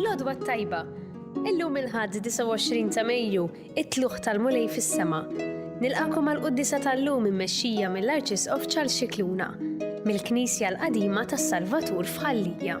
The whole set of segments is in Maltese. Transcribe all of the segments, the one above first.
L-għodwa t-tajba. Illum il-ħadd 29 ta' Mejju, It-Tlugħ tal-Mulej fis-Sema. Nilqagħkom għall-quddiesa tal-lum immexxija mill-Arċisqof Charles Scicluna, mill-Knisja l-Qadima tas-Salvatur f'Ħal-Lija.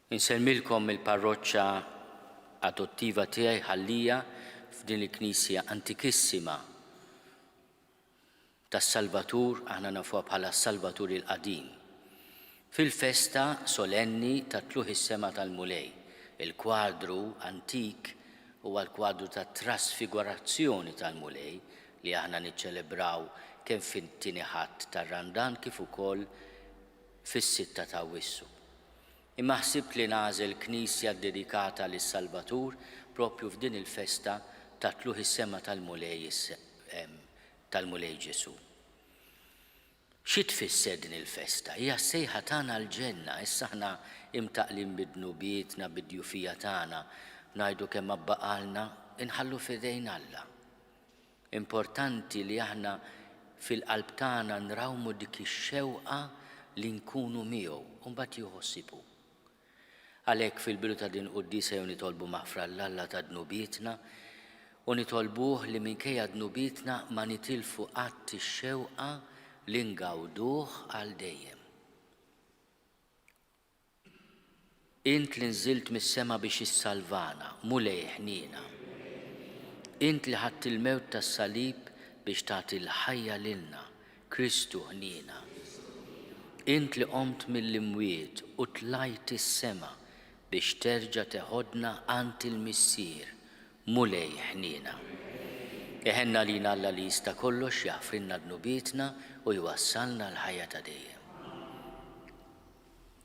Insellmilkom mill-parroċċa adottiva tiegħi Ħal-Lija f'din il-knisja antikissima tas-Salvatur, aħna nafuha bħala s-Salvatur il-Qadim, fil-festa solenni ta' Tlugħ is-Sema tal-Mulej. Il-kwadru antik huwa l-kwadru tat-Trasfigurazzjoni tal-Mulej li aħna niċċelebraw kemm fit-Tieni Ħadd tar-Randan kif ukoll fis-Sitta t'Awwissu. Imma ħsibt li nagħżel knisja ddedikata lis-Salvatur proprju f'din il-festa ta' Tlugħ is-Sema tal-Mulej tal-Mulej Ġesù. Xi tfisser din il-festa? Hija s-sejħa tagħna għall-ġenna. Issa aħna imtaqqlin bi dnubietna, bid-djufija tagħna, ngħidu kemm għabbaqalna, inħallu f'idejn Alla. Importanti li aħna fil-qalb tagħna nrawmu dik ix-xewqa li nkunu miegħu u mbagħad jieħu ħsieb hu. Għalhekk fil-bidu ta' din il-quddiesa jew nitolbu maħfra 'l Alla ta' dnubietna u nitolbuh li minkejja dnubietna ma nitilfu qatt ix-xewqa li ngawduh għal dejjem. Int li nżilt mis-sema biex issalvana, Mulej iħniena. Int li ħadt il-mewt tas-salib biex tagħti l-ħajja lilna, Kristu ħniena. Int li qomt mill-imwiet u tlajt is-sema biex terġa' teħodna għand il-Missier, Mulej iħniena. Iħenn għalina Alla li jista' kollox jaħfrilna dnubietna u jwassalna għall-ħajja ta' dejjem.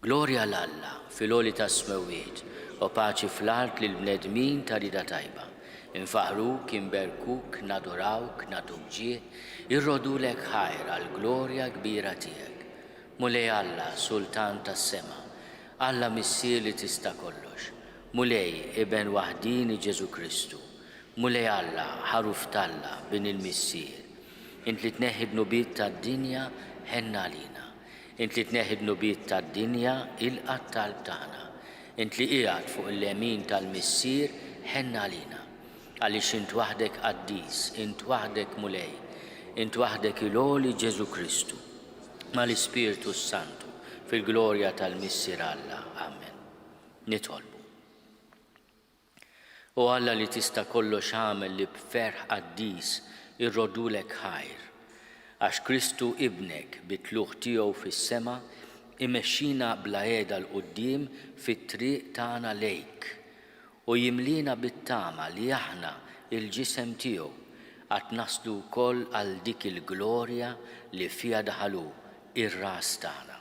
Glorja 'l Alla fil-għoli tas-smewwiet, u paċi fl-art lill-bnedmin ta' rieda tajba. Infaħruk, inberkuk, nadurawk, nagħtuk ġieħ, irrodulek ħajr għall-glorja kbira tiegħek. Mulej Alla, Sultan tas-sema, Alla Missier li tista' kollox, Mulej, Iben waħdieni Ġesù Kristu, Mulej Alla, Ħaruf t'Alla, Bin il-Missier, int li tneħħi d-dnubiet tad-dinja, ħenn għalina. Int li tneħħi d-dnubiet tad-dinja, ilqa' t-talb tagħna. Int li qiegħed fuq il-lemin tal-Missier, ħenn għalina. Għaliex int waħdek qaddis, int waħdek Mulej, int waħdek il-għoli Ġesù Kristu, mal-Ispirtu s-Santu, fil-glorja tal-Missier Alla. Amen. Nitolbu. O Alla li tista' kollox agħmel li b'ferħ qaddis irroddulek ħajr. Għax Kristu Ibnek bi tlugħ tiegħu fis-sema imexxina bla għeda 'l quddiem fit-triq tagħna lejk. U jimliena bit-tama li aħna, il-ġisem tiegħu, għad naslu wkoll għal dik il-glorja li fiha daħal hu, ir-Ras tagħna.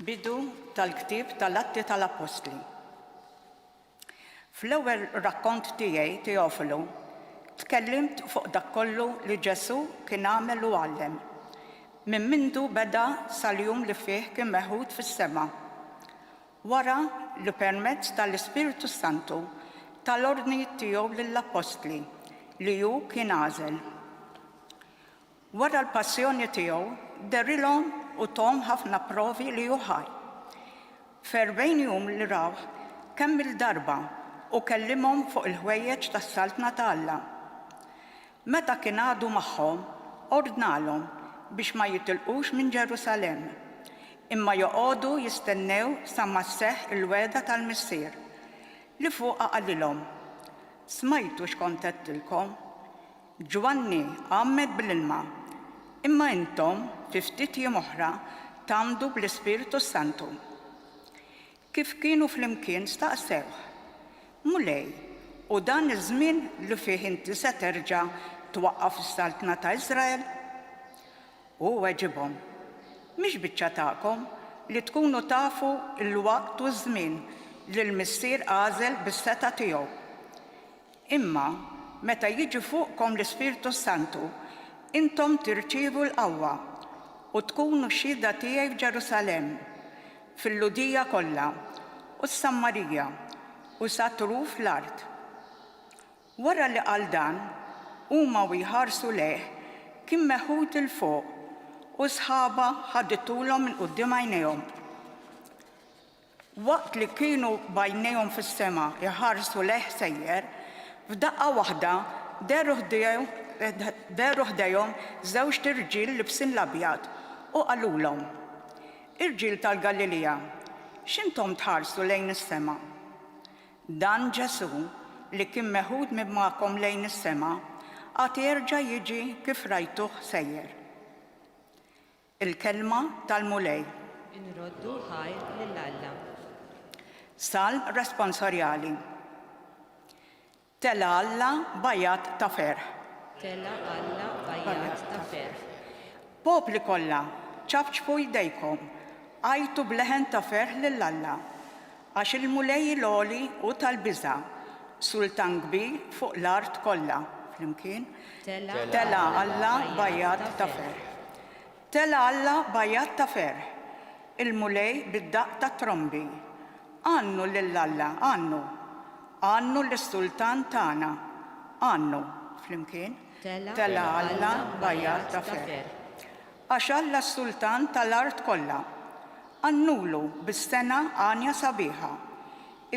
Bidu tal-ktieb tal-Atti tal-Appostli. Fl-ewwel rakkont tiegħi, Teofilu, tkellimt fuq dak kollu li Ġesù kien għamel u għallem, minn mindu beda sal-jum li fih kien meħud fis-sema. Wara li permezz tal-Ispirtu s-Santu ta l-ordnijiet tiegħu lill-Appostli li hu kien għażel. Wara l-Passjoni tiegħu derilhom u thom ħafna provi li hu ħaj. F'erbgħin jum li rawh kemm-il darba u kellimhom fuq il-ħwejjeġ tas-Saltna ta' Alla. Meta kien għadu magħhom, ordnalhom biex ma jitilqux minn Ġerusalemm, imma joqogħdu jistennew sa ma sseħħ il-wegħda tal-Missier, li fuqha qalilhom, Smajtu x'kont għedtilkom, Ġwanni għammed bl-ilma, imma intom fi ftit jiem oħra tgħammdu bl-Ispirtu s-Santu. Kif kienu flimkien staqsewh, Mulej, hu dan iż-żmien li fih inti se terġa' twaqqaf is-saltna ta' Israel? Hu weġibhom, Mhix biċċa tagħkom li tkunu tafu l-waqt u ż-żmien li l-Missier għażel bis-setgħa tiegħu. Imma meta jiġi fuqkom l-Ispirtu s-Santu, intom tirċievu l-qawwa, u tkunu xhieda tiegħi f'Ġerusalemm, fil-Lhudija kollha, u s-Sammarija, u sa truf l-art. Wara li qal dan, huma u jħarsu lejh, kien meħud 'il fuq, u s-sħaba ħaditulhom minn quddiem għajnejhom. Waqt li kienu b'għajnejhom fis-sema jħarsu lejh sejjer, f'daqqa waħda dehru ħdejhom żewġt irġiel libsin l-abjad u qalulhom, Irġiel tal-Galilija, x'intom tħarsu lejn is-sema? Dan Ġesù, li kien meħud minn magħkom lejn is-sema, għad jerġa' jiġi kif rajtuh sejjer. Il-kelma tal-Mulej. Inroddu ħajr lil Alla. Salm responsorjali. Tela' Alla bajat ta' ferħ. Tela' Alla bajat ta' ferħ. Popli kollha, ċapċpu jdejkom, għajtu b'leħen ta' ferħ lil Alla. Għax il-Mulej il-għoli hu tal-biża', Sultan kbir fuq l-art kollha. Flimkien, Telgħa Alla b'għajjat ta' ferħ. Telgħa Alla b'għajjat ta' ferħ, il-Mulej bid-daqq tat-trombi. Għannu lil Alla, għannu! Għannu lis-Sultan tagħna, għannu! Flimkien, Telgħa Alla b'għajjat ta' ferħ. Għax Alla s-Sultan ta' l-art kollha. Għannulu bis-sengħa għanja sabiħa.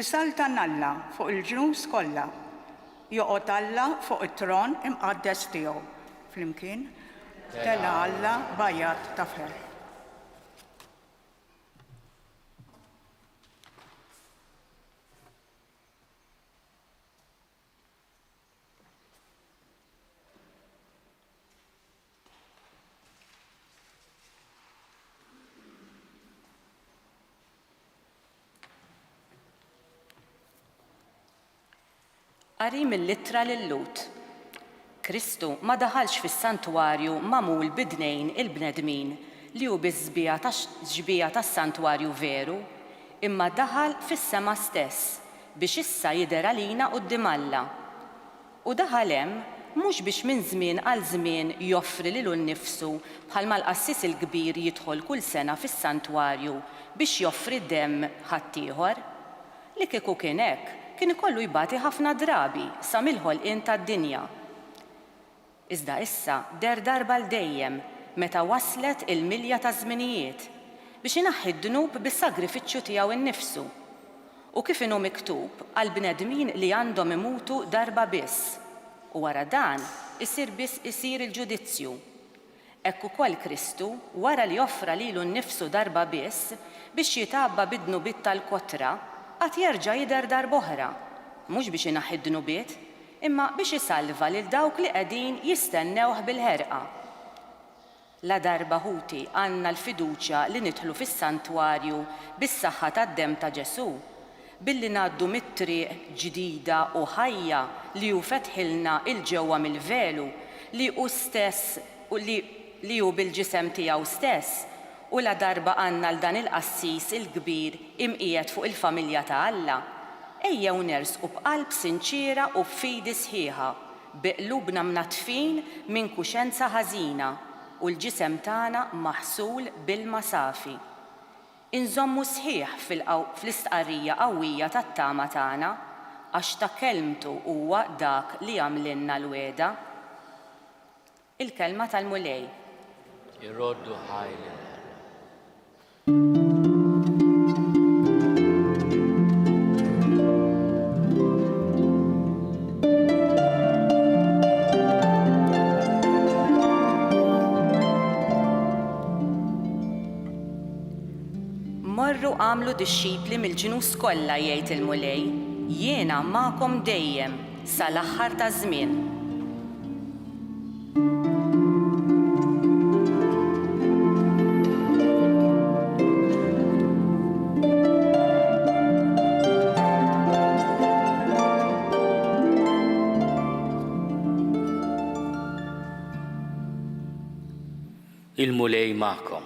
Isaltan Alla fuq il-ġnus kollha. Joqgħod Alla fuq it-tron imqaddes tiegħu. Flimkien, Tela' Alla b'għajat ta' ferħ. Qari mill-Ittra lil Lut. Kristu ma daħalx fis-santwarju magħmul b'idnejn il-bnedmin li hu biss sbieha ta' xbieha tas-santwarju veru, imma daħal fis-sema stess biex issa jidher għalina quddiem Alla. U daħal hemm mhux biex minn żmien għal żmien joffri lilu nnifsu bħalma l-qassis il-kbir jidħol kull sena fis-santwarju biex joffri demm ħaddieħor. Li kieku kien hekk, kien ikollu jbati ħafna drabi sa mill-ħolqien tad-dinja. Iżda issa deher darba għal dejjem, meta waslet il-milja taż-żminijiet, biex inaħħi d-dnub bis-sagrifiċċju tiegħu nnifsu. U kif inhu miktub għall-bnedmin li għandhom imutu darba biss, u wara dan isir biss isir il-ġudizzju, hekk ukoll Kristu, wara li offra lilu nnifsu darba biss biex jitgħabba bid-dnubiet tal-kotra, għad jerġa' jidher darb'oħra, mhux biex inaħħi d-dnubiet, imma biex isalva lil dawk li qegħdin jistennewh bil-ħerqa. Ladarba ħuti għandna l-fiduċja li nidħlu fis-santwarju bis-saħħa tad-demm ta' Ġesù, billi ngħaddu mit-triq ġdida u ħajja li hu fetħilna 'il ġewwa mill-velu li hu stess u li li hu bil-ġisem tiegħu stess, u ladarba għandna 'l dan il-qassis il-kbir imqiegħed fuq il-familja ta' Alla, ejjew nersqu b'qalb sinċiera u b'fidi sħiħa Bi qlubna mnaddfin minn kuxenza ħażina u l-ġisem tagħna maħsul b'ilma safi. Inżommu sħiħ fl-istqarrija qawwija tat-tama tagħna, għax ta' kelmtu huwa dak li għamlilna l-wegħda. Il-kelma tal-Mulej. Iroddu ħaj lil Morru agħmlu dixxipli mill-ġnus kollha, jgħid il-Mulej, jiena magħkom dejjem. sa l-aħħar taż-żmien. Il-Mulej magħkom.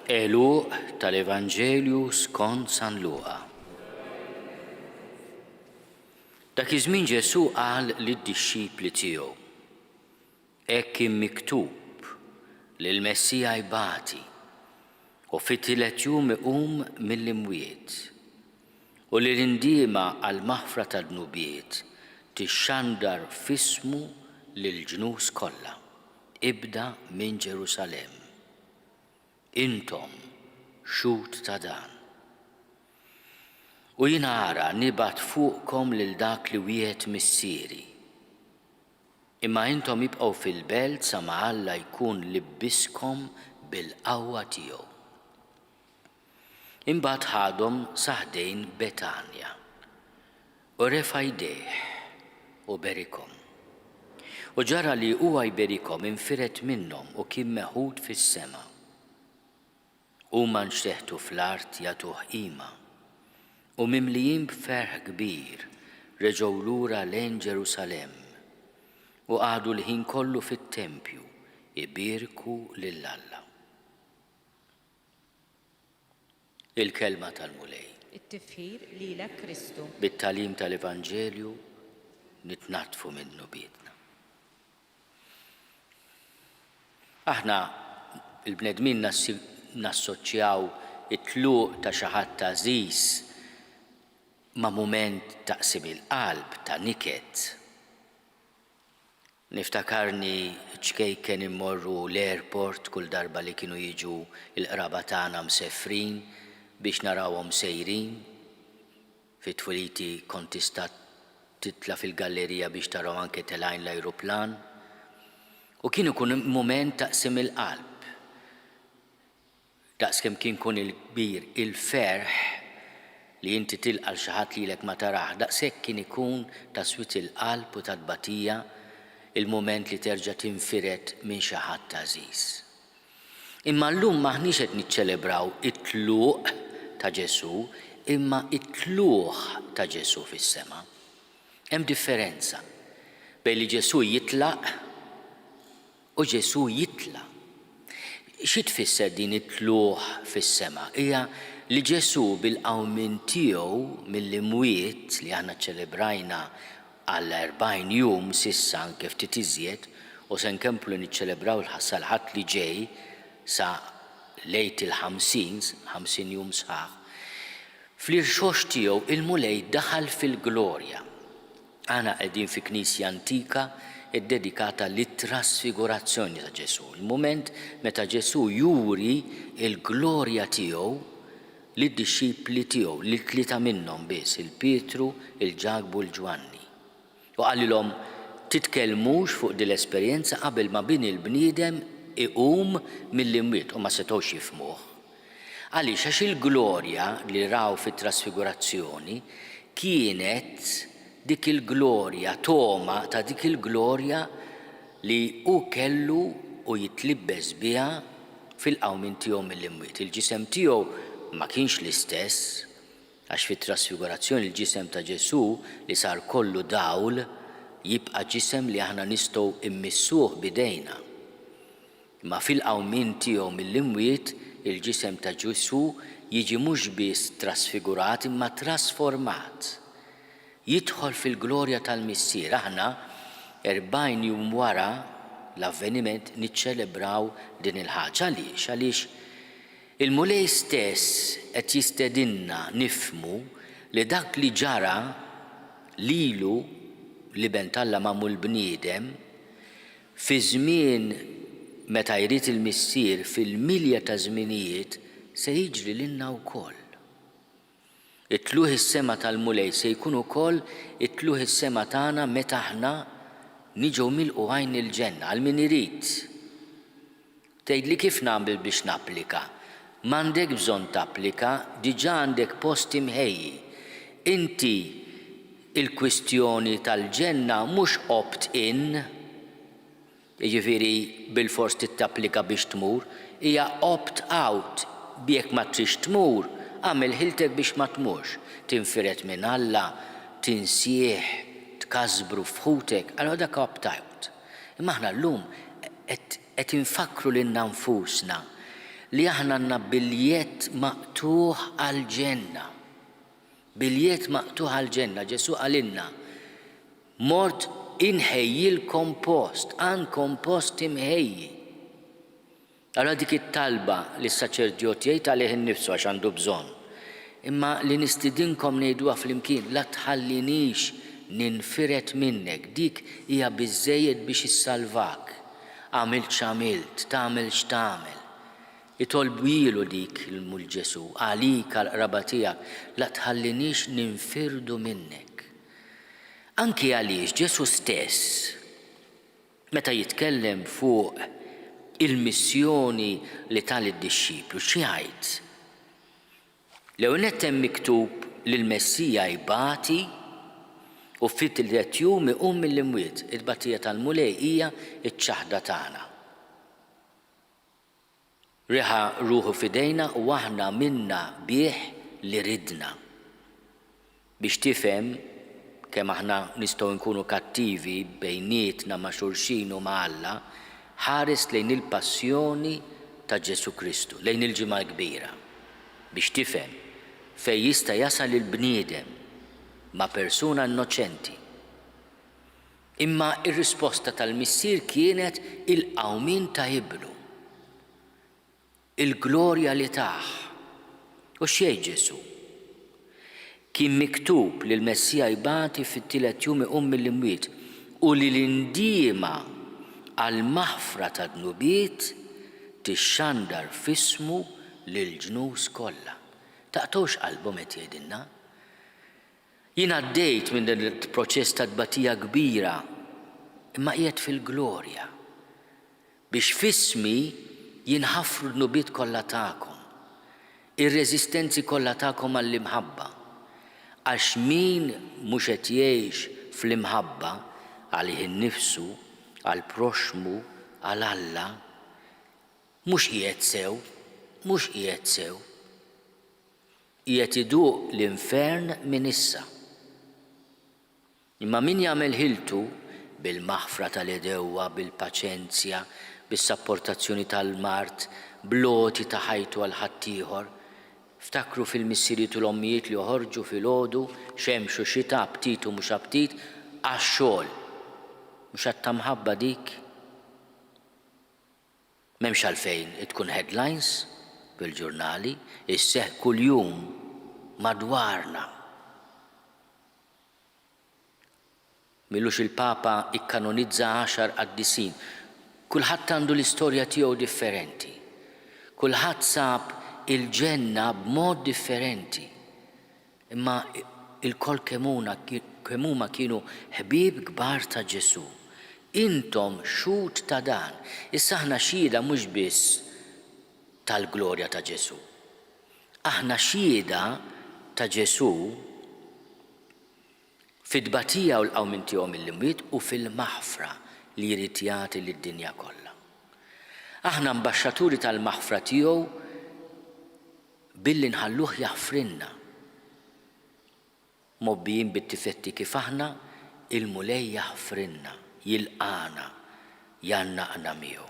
Eluq tal-Evanġelju skont San Luqa. Dak iż-żmien Ġesù qal lid-dixxipli tiegħu, Hekk kien miktub li l-Messija jbati u fit-tielet jum iqum mill-imwiet, u li l-indiema għall-maħfra tad-dnubiet tixxandar f'ismu lill-ġnus kollha, ibda minn Ġerusalemm. Intom xhud ta' dan. U jiena ara nibgħat fuqkom lil dak li wiegħed Missieri. Imma intom ibqgħu fil-belt sa ma Alla jkun libbiskom bil-qawwa tiegħu. Imbagħad ħadhom sa ħdejn Betanja. U refa' jdejh u berikhom. U ġara li huwa jberikhom infired minnhom u kien meħud fis-sema. Huma nxteħtu fl-art jagħtuh qima, u mimlijin b'ferħ kbir reġgħu lura lejn Ġerusalemm, u qagħdu l-ħin kollu fit-tempju jbierku lil Alla. il-Kelma tal-Mulej. It-tifħir lilek Kristu. Bit-tagħlim tal-Evanġelju nitnaddfu minn dnubietna. Aħna il-bnedmin nassoċjaw it-tluq ta' xi ħadd għażiż ma' mument ta' qsim il-qalb, ta' niket. Niftakarni ċkejken immorru l-airport kull darba li kienu jiġu l-qraba tagħna mseffrin biex narawhom sejrin. Fi twiliti kont tista' titla' fil-gallerija biex tarahom anke telgħin l-ajruplan. U kien ikun mument ta' qsim il-qalb. Daqskemm kien kun il-kbir il-ferħ li inti tilqa' 'l xi ħadd lilek ma tarah, daqshekk kien ikun ta' swied il-qalb u ta' tbatija l-mument li terġa' tinfired minn xi ħadd għażiż. Imma llum m'aħniex qed niċċelebraw it-tluq ta' Ġesù, imma t-tlugħ ta' Ġesù fis-sema. Hemm differenza bejn li Ġesù jitlaq. U Ġesù jitla'. Xi tfisser din it-tlugħ fis-sema? Hija li Ġesù bil-qawmien tiegħu mill-imwiet li aħna ċċelebrajna għal erbgħin jum s'issa, anke ftit iżjed, u se nkomplu niċċelebraw sal-Ħadd li ġej sa l-Għid il-Ħamsin, ħamsin jum sħaħ, fl-irxoxt tiegħu il-Mulej daħal fil-glorja. Aħna qegħdin fi knisja antika ddedikata lit-trasfigurazzjoni ta' Ġesù, il-mument meta Ġesù juri l-glorja tiegħu lid-dixxipli tiegħu, lil tlieta minnhom biss, lil Pietru, lil Ġakbu u lil Ġwanni. U qalilhom, Titkellmux fuq din l-esperjenza qabel ma Bini l-bniedem iqum mill-imwiet, u ma setgħux jifhmuh. Għaliex? Għax il-glorja li raw fit-trasfigurazzjoni kienet dik il-glorja, togħma ta' dik il-glorja li hu kellu u jitlibbes biha fil-qawmien tiegħu mill-imwiet. Il-ġisem tiegħu ma kienx l-istess, għax fit-trasfigurazzjoni l-ġisem ta' Ġesù li sar kollu dawl jibqa' ġisem li aħna nistgħu mmissuh b'idejna. Imma fil-qawmien tiegħu mill-imwiet, il-ġisem ta' Ġesù jiġi mhux biss trasfigurat imma trasformat. Jidħol fil-glorja tal-Missier. Aħna, erbgħin jum wara l-avveniment, niċċelebraw din il-ħaġa. Għaliex? Għaliex il-Mulej stess qed jistedinna nifhmu li dak li ġara lilu, l-Iben t'Alla magħmul bniedem, Fi żmien meta jrid il-Missier fil-milja taż-żminijiet se jiġri lilna wkoll. It-tlugħ is-sema tal-Mulej se jkun ukoll it-tlugħ is-sema tagħna meta aħna niġu milqugħin il-ġenna, għal min irid. Tgħidli kif nagħmel biex napplika? M'għandek bżonn tapplika, diġà għandek post imħejji. Inti il-kwistjoni tal-ġenna mhux opt in, jiġifieri bilfors trid tapplika biex tmur, hija opt out, jekk ma tridx tmur, agħmel ħiltek biex ma tmurx. Tinfired minn Alla, tinsieh, tkasbru f'ħutek, allura dak opt out. Imma aħna llum qed Qed infakkru lilna nfusna li aħna għandna biljett maqtugħ għall-ġenna. Biljett maqtugħ għall-ġenna. Ġesù qalilna, Mort inħejjilkom post, għandkom post imħejji. Ara dik it-talba li s-saċerdjot jgħid għalih innifsu għax għandu bżonn, imma li nistidinkom ngħiduha flimkien, La tħallinix ninfired minnek, dik hija biżżejjed biex issalvak. Għamilt x'għamilt, tagħmel x'tagħmel. Itolbuilu dik l Ġesù, għalik, għall-qraba tiegħek, la tħalliniex ninfirdu minnek. Anki għaliex Ġesù stess, meta jitkellem fuq il-missjoni li ta lid-dixxiplu, x'jgħid? L-ewwel nett hemm miktub li l-Messija jbati u fit-tlilet jum iqum mill-imwiet. It-tbatija tal-Mulej hija ċ-ċaħda tagħna. Reħa ruħu f'idejna u aħna minna bih li ridna. Biex tifhem kemm aħna nistgħu nkunu kattivi bejnietna ma' xulxin u ma' Alla, ħares lejn il-Passjoni ta' Ġesù Kristu, lejn il-Ġimgħa l-Kbira, biex tifhem fejn jista' jasal il-bniedem ma' persuna innoċenti. Imma r-risposta tal-Missier kienet il-qawmien ta' Ibnu. Il-glorja li tah. U x'jgħid Ġesù? Kien miktub li l-Messija jbati fit-tielet jum iqum mill-imwiet u li l-indiema għall-maħfra tad-dnubiet tixxandar f'ismu lill-ġnus kollha. Taqtgħux qalbhom qed jgħidilna? Jien għaddejt minn dan il-proċess ta' tbatija kbira imma qiegħed fil-glorja. Biex f'ismi jinħafru d-dnubiet kollha tagħkom, ir-reżistenzi kollha tagħkom għall-imħabba. Għax min mhux qed jgħix fl-imħabba, għalih innifsu, għall-proxxmu, għal Alla, mhux qiegħed sew, mhux qiegħed sew. Qiegħed iduq l-infern minn issa. Imma min jagħmel ħiltu, bil-maħfra tal-għedewwa, bil-paċenzja, bis-sapportazzjoni tal-mard, bl-għoti ta' ħajtu għal ħaddieħor. Ftakru fil-missirijiet u l-ommijiet li joħorġu filgħodu, xemx u xita, aptit u mhux aptit, għax-xogħol. Mhux att ta' mħabba dik? M'hemmx għalfejn tkun headlines fil-ġurnali, isseħħ kuljum madwarna. M'ilux il-Papa ikkanonizza għaxar qaddisin. Kulħadd għandu l-istorja tiegħu differenti. Kulħadd sab il-ġenna b'mod differenti. Imma ilkoll kemm huma kienu ħbieb kbar ta' Ġesù. Intom xhud ta' dan. Issa aħna xhieda mhux biss tal-glorja ta' Ġesù. Aħna xhieda ta' Ġesù fit-tbatija u l-qawmien tiegħu mill-imwiet u fil-maħfra li jrid jagħti lid-dinja kollha. Aħna mbaxxaturi tal-maħfra tiegħu billi nħalluh jaħfrilna. Mgħobbijin bit-tifetti kif aħna, il-Mulej jaħfrilna, jilqagħna, jgħannaqna miegħu.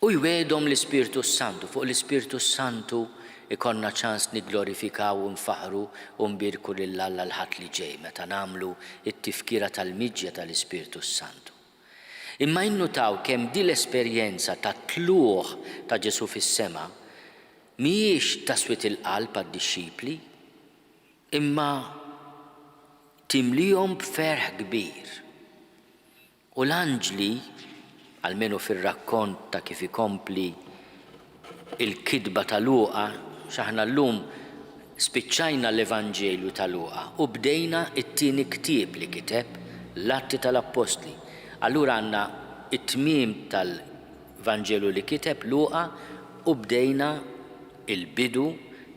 U jwiegħdhom l-Ispirtu s-Santu. Fuq l-Ispirtu s-Santu jkollna ċans nigglorifikaw u nfaħħru u nbierku lil Alla l-Ħadd li ġej meta nagħmlu t-Tifkira tal-Miġja tal-Ispirtu s-Santu. Imma innutaw kemm din l-esperjenza tat-tlugħ ta' Ġesù fis-sema mhijiex ta' swied il-qalb għad-dixxipli, imma timliehom b'ferħ kbir. U l-anġli, almenu fir-rakkont ta' kif ikompli l-kitba ta' Luqa, x'aħna llum spiċċajna l-Evanġelju ta' Luqa u bdejna t-tieni ktieb li kiteb, l-Atti tal-Appostli. Allura għandna t-tmiem tal-Vanġelu li kiteb Luqa u bdejna l-bidu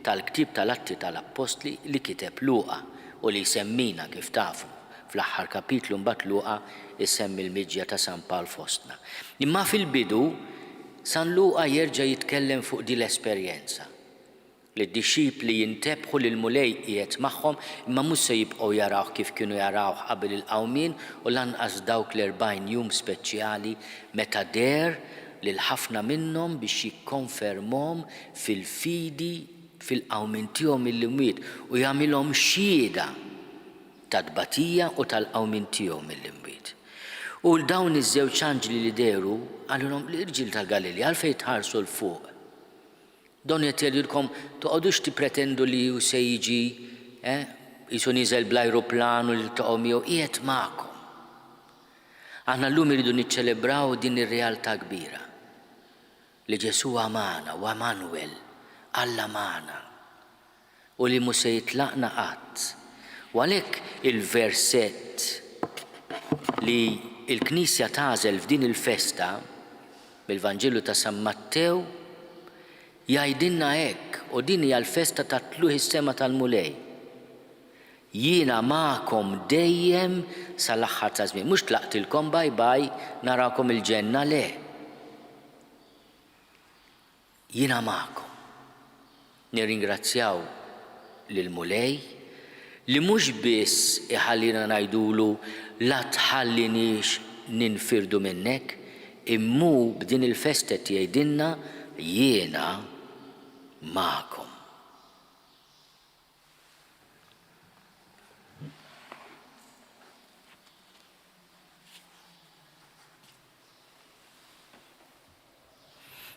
tal-ktieb tal-Atti tal-Appostli li kiteb Luqa u li jsemmina, kif tafu. Fl-aħħar kapitlu mbagħad Luqa jsemmi l-miġja ta' San Pawl fostna. Imma fil-bidu San Luqa jerġa' jitkellem fuq din l-esperjenza, li d-dixxipli jintebħu li l-Mulej qiegħed magħhom imma mhux se jibqgħu jarawh kif kienu jarawh qabel il-qawmien u lanqas dawk l-erbgħin jum speċjali meta deher lil ħafna minnhom biex jikkonfermhom fil-fidi fil-qawmien tiegħu mill-imwiet u jagħmilhom xhieda tat-tbatija u tal-qawmien tiegħu mill-imwiet. U 'l dawn iż-żewġ anġli li dehru, qalulhom, Irġiel ta' Galilja, għalfejn tħarsu 'l fuq? Donnu qed jgħidulkom, toqgħodux tippretendu li hu se jiġi, eh, qisu niżel bl-ajruplan u niltaqgħu miegħu, qiegħed magħkom. Aħna llum irridu niċċelebraw din ir-realtà kbira, li Ġesù hu magħna, hu Għemanwel, Alla magħna. u li mhu se jitlaqna qatt. U għalhekk il-versett li l-Knisja tagħżel f'din il-festa, mill-Vanġelu ta' San Mattew, jgħidilna hekk, u din hija l-festa tat-tluħ is-sema tal-Mulej, Jiena magħkom dejjem sal-aħħar taż-żmien. Mhux tlaqtilkom bye bye, narakom il-ġenna, le. Jiena magħkom. Nirringrazzjaw lill-Mulej li mhux biss iħallina ngħidulu la tħalliniex ninfirdu minnek imma hu b'din il-festa qed jgħidilna jiena magħkom.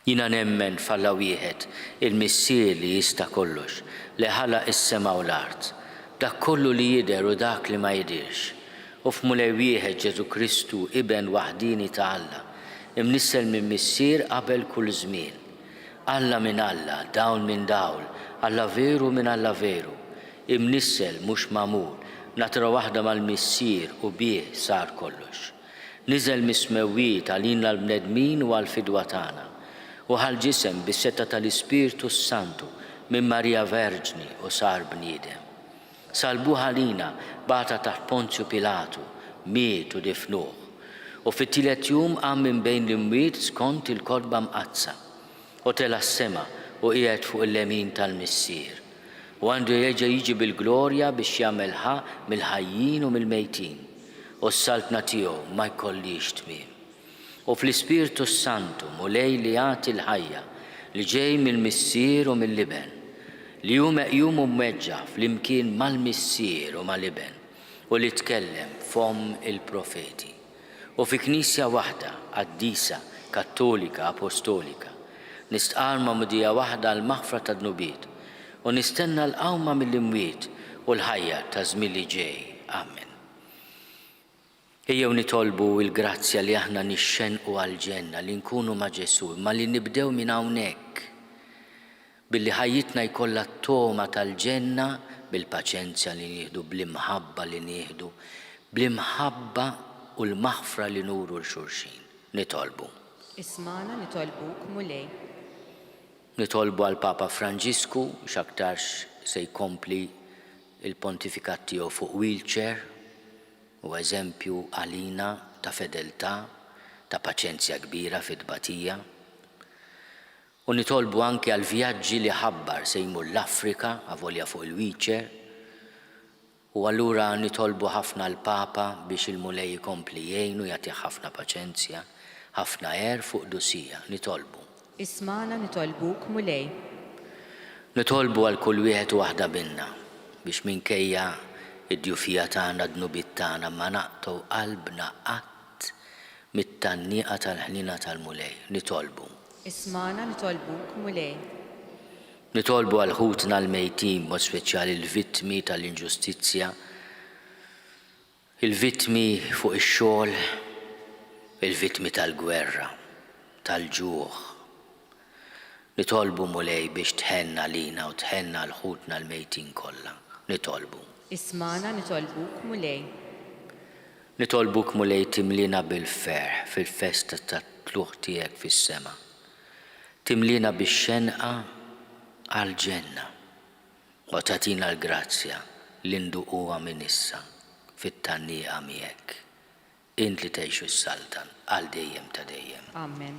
Jiena nemmen f'Alla wieħed, il-Missier li jista' kollox, li ħalaq is-sema u l-art, dak kollu li jidher u dak li ma jidhirx, u f'Mulej wieħed Ġesù Kristu, Iben waħdieni ta' Alla, imnissel minn Missier qabel kull żmien. Alla minn Alla, dawl minn dawl, Alla veru minn Alla veru, imnissel, mhux magħmul, natura waħda mal-Missier u bih sar kollox. Niżel mis-smewwiet għalina l-bnedmin u għall-fidwa tagħna, u ħa l-ġisem bis-setgħa tal-Ispirtu s-Santu minn Marija Verġni u sar bniedem. Salbuh għalina, bagħatha taħt Ponzju Pilatu, miet u difnuh, u fit-tielet jum qam minn bejn l-imwiet skont il-Kotba Mqaddsa, u tela' s-sema u qiegħed fuq il-lemin tal-Missier, u għandu jerġa' jiġi bil-glorja biex jagħmel ħa mill-ħajjin u mill-mejtin, u s-saltna tiegħu ma jkollhiex tmiem. U fl-Ispirtu s-Santu, Mulej li jagħti l-ħajja, li ġej mill-Missier u mill-Iben, li hu meqjum u mweġġa' flimkien mal-Missier u mal-Iben, u li tkellem b'fomm il-profeti, u fi Knisja waħda, qaddisa, kattolika, apostolika, nistqarr magħmudija waħda għall-maħfra tad-dnubiet, u nistenna l-qawma mill-imwiet u l-ħajja taż-żmien li ġej. Amen. Ejjew nitolbu l-grazzja li aħna nixxennqu għall-ġenna, li nkunu ma' Ġesù, imma li nibdew minn hawnhekk, billi ħajjitna jkollha t-togħma tal-ġenna bil-paċenzja li nieħdu, bl-imħabba li nieħdu, bl-imħabba u l-maħfra li nuru 'l xulxin. Nitolbu. Ismagħna nitolbuk, Mulej. Nitolbu għall-Papa Franġisku, x'aktarx se jkompli l-pontifikat tiegħu fuq wheelchair. Hu eżempju għalina ta' fedeltà, ta' paċenzja kbira fit-tbatija. U nitolbu anki għall-vjaġġi li ħabbar, se jmur l-Afrika, avolja fuq il-wheelchair. U allura nitolbu ħafna l-Papa biex il-Mulej ikompli jgħinu, jagħtih ħafna paċenzja, ħafna għerf u qdusija. Nitolbu. Ismagħna nitolbuk, Mulej. Nitolbu għal kull wieħed u waħda minna biex minkejja d-djufija tagħna, d-dnubiet tagħna, ma naqtgħu qalbna qatt mit-tgħanniqa tal-ħniena tal-Mulej. Nitolbu. Ismagħna nitolbuk, Mulej. Nitolbu għal ħutna l-mejtin, b'mod speċjali l-vittmi tal-inġustizzja, Il-vittmi fuq ix-xogħol, il-vittmi tal-gwerra, tal-ġuħ. Nitolbu, Mulej, biex tħenn għalina u tħenn għal ħutna l-mejtin kollha. Nitolbu. Ismagħna, nitolbuk, Mulej. Nitolbuk, Mulej, timliena bil-ferħ fil-festa tat-tlugħ tiegħek fis-sema. Timliena bix-xenqa għall-ġenna. U tagħtina l-grazzja li nduquha minn issa fit-tgħanniqa miegħek, int li tgħix u ssaltan għal dejjem ta' dejjem. Amen.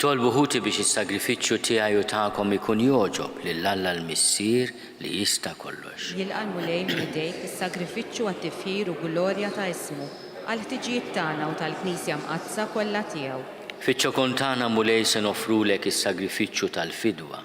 Itolbu ħuti biex is-sagrifiċċju tiegħi u tagħkom ikun jogħġob lil Alla l-Missier li jista' kollox. Jilqa' l-Mulej minn idejk is-sagrifiċċju għat-tifħir u glorja ta' ismu, għall-ħtiġijiet tagħna u tal-Knisja Mqaddsa kollha tiegħu. Fiċ-ċokun tagħna, Mulej, se noffrulek is-sagrifiċċju tal-fidwa.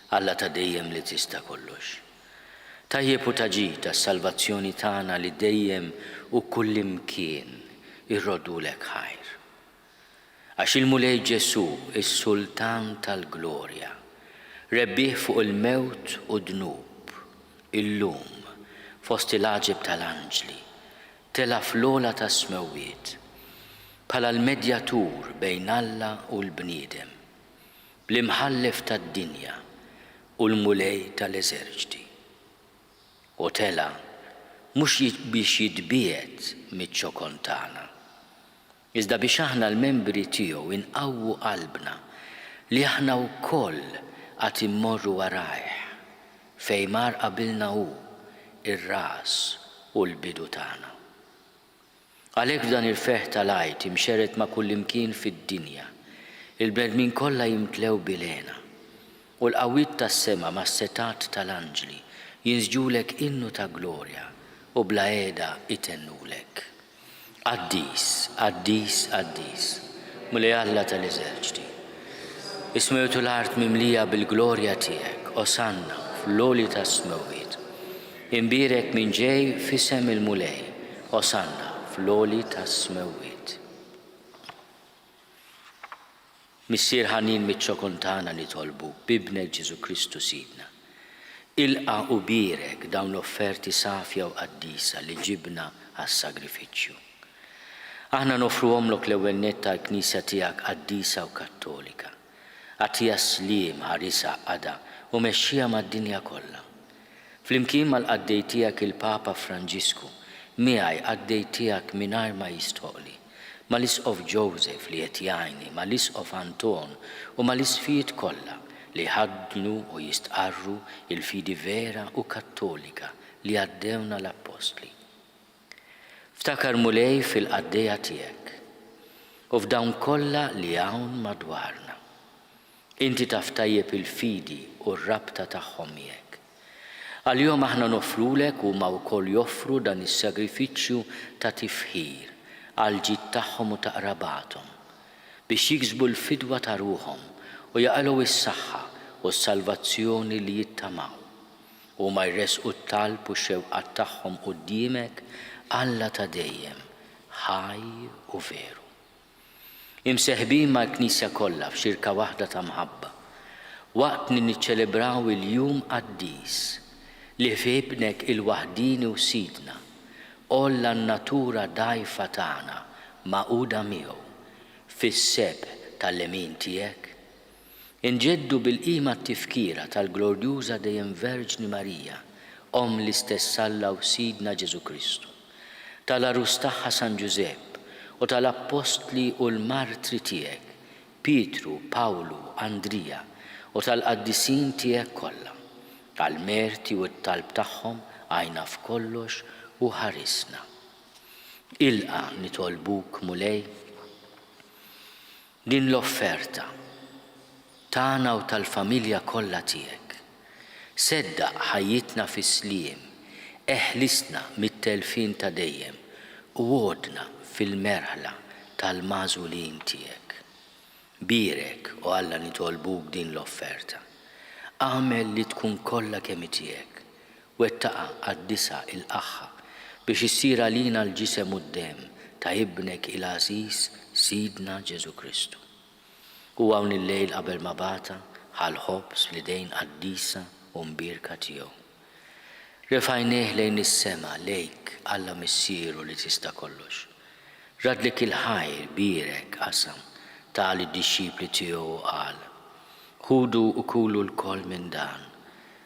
Alla ta' dejjem li tista' kollox. Tajjeb u ta' ġid għas-salvazzjoni tagħna li dejjem u kullimkien irroddulek ħajr. Għax il-Mulej Ġesù, is-Sultan tal-Glorja, rebbieħ fuq il-mewt u d-dnub, illum, fost il-għaġeb tal-anġli, tela' fl-ogħla tas-smewwiet, bħala l-medjatur bejn Alla u l-bniedem. L-Imħallef tad-dinja u l-Mulej tal-eżerċti. U tela' mhux biex jitbiegħed miċ-ċokon tagħna, iżda biex aħna l-membri tiegħu inqawwu qalbna li aħna wkoll għad immorru warajh, fejn mar qabilna hu, ir-ras u l-bidu tagħna. Għalhekk f'dan il-ferħ tal-Għid imxerred ma' kullimkien fid-dinja, il-bnedmin kollha jimtlew bil-hena, u l-qawwiet tas-sema mas-setgħat tal-anġli jinsġulek innu ta' glorja u bla qiegħda itennulek, Qaddis, qaddis, qaddis, Mulej Alla tal-eżerċti. Is-smewwiet u l-art mimlija bil-glorja tiegħek, Osanna fl-għoli tas-smewwiet. Imbierek min ġej f'isem il-Mulej, Osanna fl-għoli tas-smewwiet. Missier ħanin miċ-ċo kuntana nitolbuk b'Ibnek Ġesù Kristu Sidna. Ilqa' u bierek dawn l-offerti safja u qaddisa li ġibna għas-sagrifiċċju. Aħna noffruhomlok l-ewwel nett għall-Knisja tiegħek qaddisa u kattolika. Agħtiha s-sliem, ħarisha, qagħdha, u mexxiha mad-dinja kollha. Flimkien mal-qaddej tiegħek il-Papa Franġisku, miegħi qaddej tiegħek mingħajr ma jistħoqqli, mal-Isqof Joseph li qed jgħinni, mal-Isqof Anton u mal-Isqfijiet kollha li jħaddnu u jistqarru il-fidi vera u kattolika li għaddewna l-Appostli. Ftakar Mulej fil-qaddejja tiegħek u f'dawn kollha li hawn madwarna. Inti taf tajjeb il-fidi u r-rabta tagħhom miegħek. Għalihom aħna noffrulek u huma wkoll joffru dan is-sagrifiċċju ta' tifħir għall-ġid tagħhom u ta' qrabathom, biex jiksbu l-fidwa ta' ruħhom u jaqilgħu s-saħħa u s-salvazzjoni li jittamaw. Huma jressqu t-talb u x-xewqat tagħhom quddiemek, Alla ta' dejjem, ħaj u veru. Imseħbin mal-Knisja kollha f'xirka waħda ta' mħabba, waqt li niċċelebraw il-jum qaddis li fih Ibnek il-waħdieni u Sidna, għolla n-natura dgħajfa tagħna magħquda miegħu fis-sebħ tal-lemin tiegħek, Inġeddu bil-qima t-tifkira tal-glorjuża Dejjem Verġni Marija, Omm l-istess Alla u Sidna Ġesù Kristu, tal-għarus tagħha San Ġużepp u tal-appostli u l-martri tiegħek, Pietru, Pawlu, Andrija, u tal-qaddisin tiegħek kollha. Għall-merti u t-talb tagħhom għinna f'kollox u ħarisna. Ilqa' nitolbuk, Mulej. Din l-offerta, tagħna u tal-familja kollha tiegħek. Seddaq ħajjitna fis-sliem, eħlisna mit-telfien ta' dejjem u għoddna fil-merħla tal-magħżulin tiegħek. Bierek, o Alla nitolbuk din l-offerta. Agħmel li tkun kollha kemm hi tiegħek Wettaqha qaddisha, ilqagħha, biex issir għalina l-ġisem u d-demm ta' Ibnek il-għażiż, Sidna Ġesù Kristu. Hu hawn illejl qabel ma bagħatha, ħa l-ħobż fl-idejn qaddisa u mbierka tiegħu. Refa' għajnejh lejn is-sema, lejk, Alla Missieru li tista' kollox. Radlek il-ħajr, bierek, qasam, ta lid-dixxipli tiegħu u qal, Ħudu u kulu lkoll minn dan.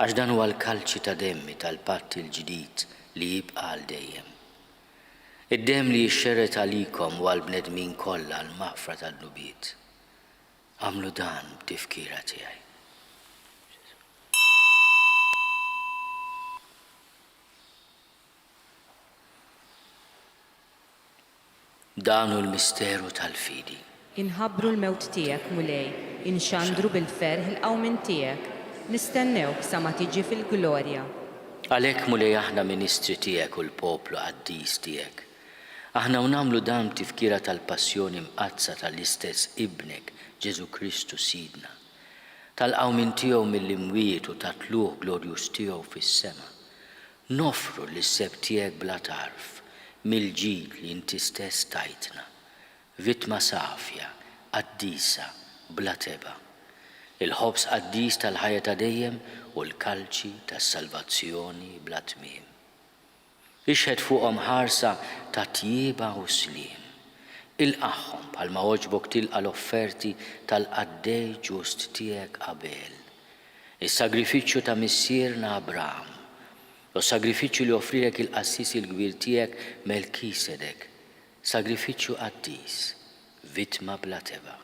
Għax dan huwa l-kalċi ta' demmi tal-patt il-ġdid li jibqa' għal dejjem. Id-demm li jixxerred għalikom u għall-bnedmin kollha għall-maħfra tad-dnubiet. Agħmlu dan b'tifkira tiegħi. Dan hu l-misteru tal-fidi. Inħabbru l-mewt tiegħek, Mulej, inxandru bil-ferħ il-qawmien tiegħek, nistennewk sa ma tiġi fil-glorja. Għalhekk, Mulej, aħna ministri tiegħek u l-poplu qaddis tiegħek, aħna u nagħmlu dan b'tifkira tal-passjoni mqaddsa tal-istess Ibnek, Ġesù Kristu Sidna, tal-qawmien tiegħu mill-imwiet u tat-tlugħ glorjuż tiegħu fis-sema, Noffru lis-seb tiegħek bla tarf mill-ġid li inti stess tajtna, vittma safja, qaddisa, bla tebgħa. Il-ħobż qaddis tal-ħajja ta' dejjem u l-kalċi tas-salvazzjoni bla tmiem. Ixħet fuqhom ħarsa ta' tjieba u sliem. Ilqagħhom bħalma għoġbok tilqa' l-offerti tal-qaddej ġust tiegħek Abel, Is-sagrifiċċju ta' missierna Abraham, u s-sagrifiċċju li offrielek il-qassis il-kbir tiegħek Melkisedek, sagrifiċċju qaddis, vittma bla tebgħa.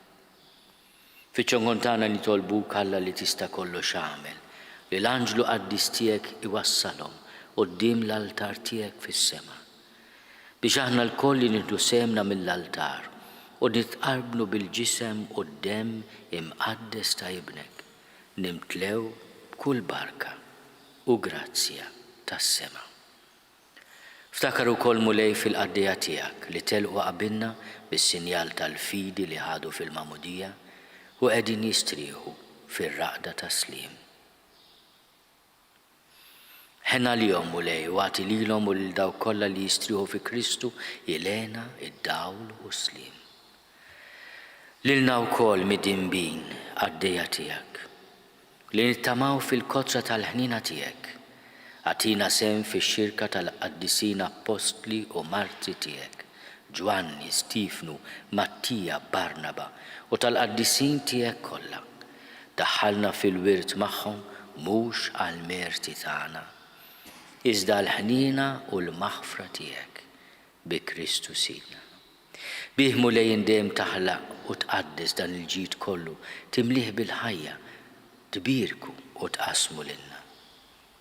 Fiċ-ċongon tagħna nitolbuk, Alla li Tista' Kollox Agħmel li l-anġlu qaddis tiegħek iwassalhom quddiem l-altar tiegħek fis-sema, biex aħna lkoll li nieħdu sehemna mill-altar u nitqarbnu bil-Ġisem u d-Demm imqaddes ta' Ibnek, nimtlew b'kull barka u grazzja tas-sema. Ftakar ukoll, Mulej, fil-qaddejja Tiegħek li telqu qabilna bis-sinjal tal-fidi li ħadu fil-Magħmudija u qegħdin jistrieħu fir-raqda tas-sliem. Ħenalihom, Mulej, u agħti lilhom u lil dawk kollha li jistrieħu fi Kristu il-hena, id-dawl u s-sliem. Lilna wkoll midinbin qaddejja tiegħek, li nittamaw fil-kotra tal-ħniena tiegħek, agħtina sehem fix-xirka tal-qaddisin appostli u martri tiegħek, Ġwanni, Stiefnu, Mattija, Barnaba, u tal-qaddisin tiegħek kollha, daħħalna fil-wirt magħhom mhux għall-merti tagħna, iżda għall-ħniena u l-maħfra tiegħek, bi Kristu Sidna. Bih Mulej int dejjem taħlaq u tqaddes dan il-ġid kollu, timlieh bil-ħajja, tbierku u tqassmu lilna.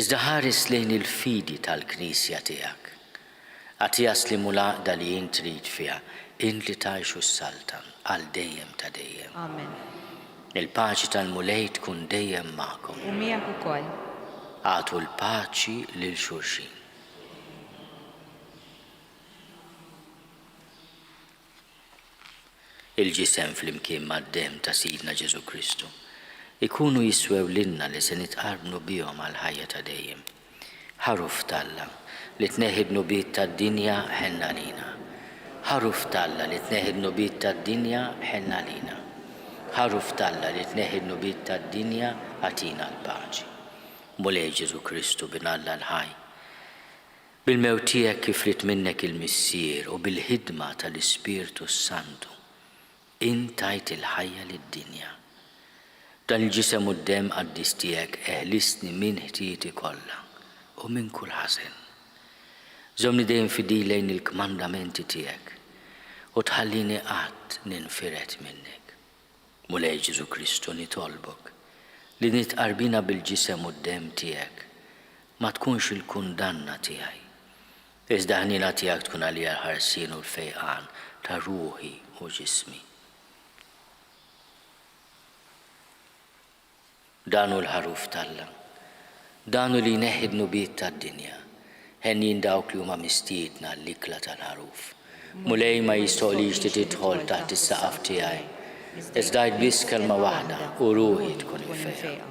Iżda ħares lejn il-fidi tal-Knisja tiegħek. Agħtiha s-sliem u l-għaqda li int trid fiha, int li tgħix u ssaltan għal dejjem ta' dejjem. Amen. Il-paċi tal-Mulej tkun dejjem magħkom. U miegħek ukoll. Agħtu l-paċi lil xulxin. il-ġisem flimkien mad-demm ta' Sidna Ġesù Kristu, ikunu jiswew lilna li se nitqarbnu bihom għall-ħajja ta' dejjem. Ħaruf t'Alla, li tneħħi d-dnubiet tad-dinja, ħenn għalina. Ħaruf t'Alla, li tneħħi d-dnubiet tad-dinja, ħenn għalina. Ħaruf t'Alla, li tneħħi d-dnubiet tad-dinja, agħtina l-paċi. Mulej Ġesù Kristu, Bin Alla l-ħaj. Bil-mewt tiegħek kif ried minnek il-Missier u bil-ħidma tal-Ispirtu s-Santu, int tajt il-ħajja lid-dinja. B'dan il-ġisem u d-demm qaddis tiegħek eħlistni minn ħtieti kollha u minn kull ħażen. Żommni dejjem fidil lejn il-kmandamenti tiegħek u tħallini qatt ninfired minnek. Mulej Ġesù Kristu nitolbok li din it-tqarbina bil-ġisem u d-demm tiegħek ma tkunx il-kundanna tiegħi, iżda ħniena tiegħek tkun għalija l-ħarsien u l-fejqan ta' ruħi u ġismi. Dan hu l-Ħaruf t'Alla. Dan hu li jneħħi d-dnubiet tad-dinja. Henjin dawk li huma mistiedna għall-ikla tal-Ħaruf. Mulej ma jistoqlix li tidħol taħt is-saqaf tiegħi, iżda għid biss kelma waħda u ruħi tkun imfejqa.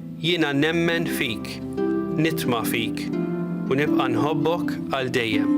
Jiena nemmen fik, nitma' fik, u nibqa' nħobbok għal dejjem.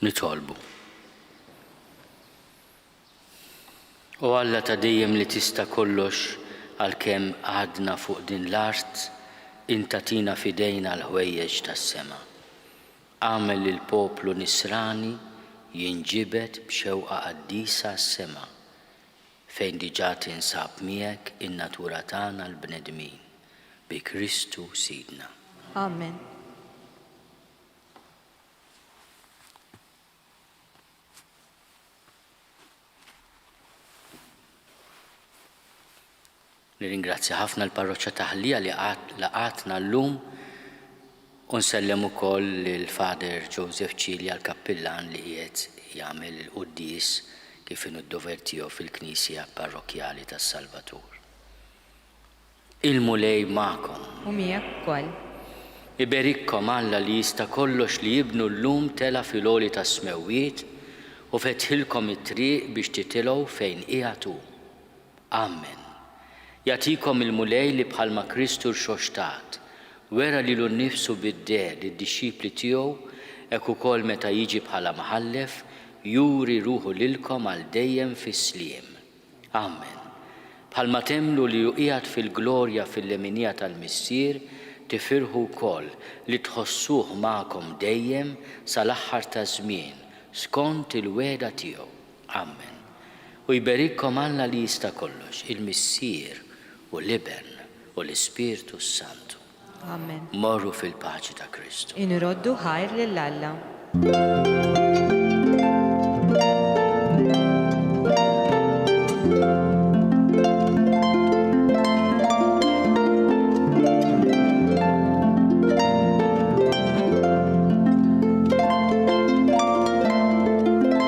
nitolbu. U Alla ta' dejjem li tista' kollox għalkemm għadna fuq din l-art, inta tina fidejna l-ħwejjeġ tas-sema. Għamel lil poplu nisrani jinġibed b'xewqa qaddisa għas-sema. fejn diġà tinsab miegħek in-natura tagħna l-bnedmin, bi Kristu Sidna. Amen. Nirringrazzja ħafna l-Parroċċa ta' Ħlija li laqgħatna llum u nsellem ukoll lil Father Joseph Cilia l-Kappillan li qiegħed jagħmel il-quddies kif inhu d-dover tiegħu fil-Knisja Parrokkjali tas-Salvatur. Il-Mulej magħkom. U miegħek ukoll. Iberikkom Alla li jista' kollox li Ibnu llum tela' fil-għoli tas-smewwiet u fetħilkom it-triq biex titilgħu fejn qiegħed hu. Amen. Jagħtikom il-Mulej li bħalma Kristu rxoxtat, wera lilu nnifsu bid-deh lid-dixxipli tiegħu, hekk ukoll meta jiġi bħala Mħallef, juri ruħu lilkom għal dejjem fis-sliem. Amen. Bħalma temmnu li hu qiegħed fil-glorja fil-leminija tal-Missier, tifirħu wkoll li tħossuh magħkom dejjem sal-aħħar taż-żmien, skont il-wegħda tiegħu. Amen. U jberikkom Alla li jista' kollox, il-Missier u l-Iben u l-Ispirtu s-Santu. Amen. Morru fil-paċi ta' Kristu. Inroddu ħajr lil Alla.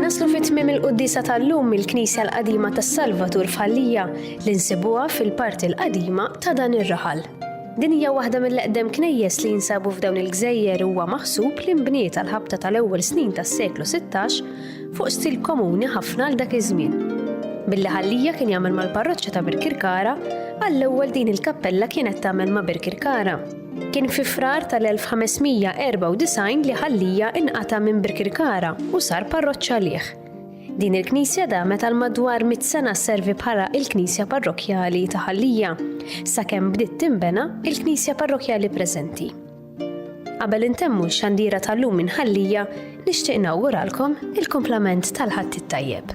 Naslu fit tmim il-quddisa tal-lum mill-Knisja l-Qadima tas-Salvatur f'Ħallija li nsibuha fil-parti l-qadima ta' dan ir-raħal. Din hija waħda mill-eqdem knejjes li jinsabu f'dawn il-gżejjer huwa maħsub li nbniet għal ħabta tal-ewwel snin tas-seklu 16 fuq stil komuni ħafna għal dak iż-żmien. Billi ħallija kien jagħmel mal-parroċċa ta' Birkirkara, għall-ewwel din il-kappella kienet tagħmel ma' Birkirkara. Kien fi Frar tal-1594 li Ħallija inqata' minn Birkirkara u sar parroċċa għalih. Din il-knisja damet għal madwar mitt sena sservi bħala il-knisja parrokkjali ta' Ħallija, sakemm bdiet tinbena il-knisja parrokkjali preżenti. Qabel intemmu x-xandira tal-lum minn Ħallija, nixtieq nawguralkom il-kumplament tal-Ħadd it-Tajjeb.